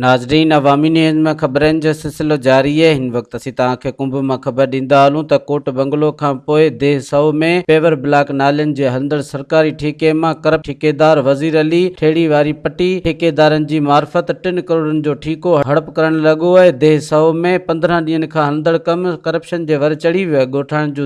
ناظرين عوامي نيوز ۾ خبرن جو سلسلو جاري آهي هن وقت اسين توهان کي ڪنڀ مان خبر ڏيندا هلون ته ڪوٽ بنگلو کان پوء ديهه سئو ۾ پيور بلاڪ نالين جي هلندڙ سرڪاري ٺيڪي مان ڪرپٽ ٺيڪيدار وزير علي ٺيڙهي واري پٽي ٺيڪيدارن جي معرفت ٽن ڪروڙن جو ٺيڪو هڙپ ڪرڻ لڳو آهي ديهه سئو ۾ پندرهن ڏينهن کان هلندڙ ڪم ڪرپشن جي ور چڙهي ويو آهي ڳوٺاڻن جون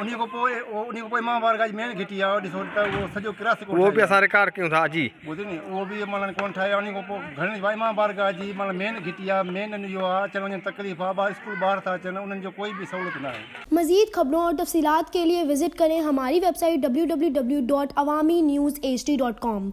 انهيء کان پوء انهيء کان پوء مهانڀار کان جي مين گهٽي آهي ڏسو ته اهو سڄو ڪراس ڪوٽ اهو به اسان رڪارڊ ڪيون ٿا جي ٻڌ ني اهو به مانن ڪون ٺاهي انهيء کان پوء گهڻي وائي مهانڀار کان جي مانن مين گهٽي آهي مين ان جو آهي اچڻ وڃڻ تڪليف آهي ٻار اسڪول ٻاهر ٿا اچن انهن جو ڪوئي به سهولت ناهي. مزيد خبرون اور تفصيلات کے ليے وزٽ ڪرين ھماري ويب سائيٽ www.awaminews hd.com.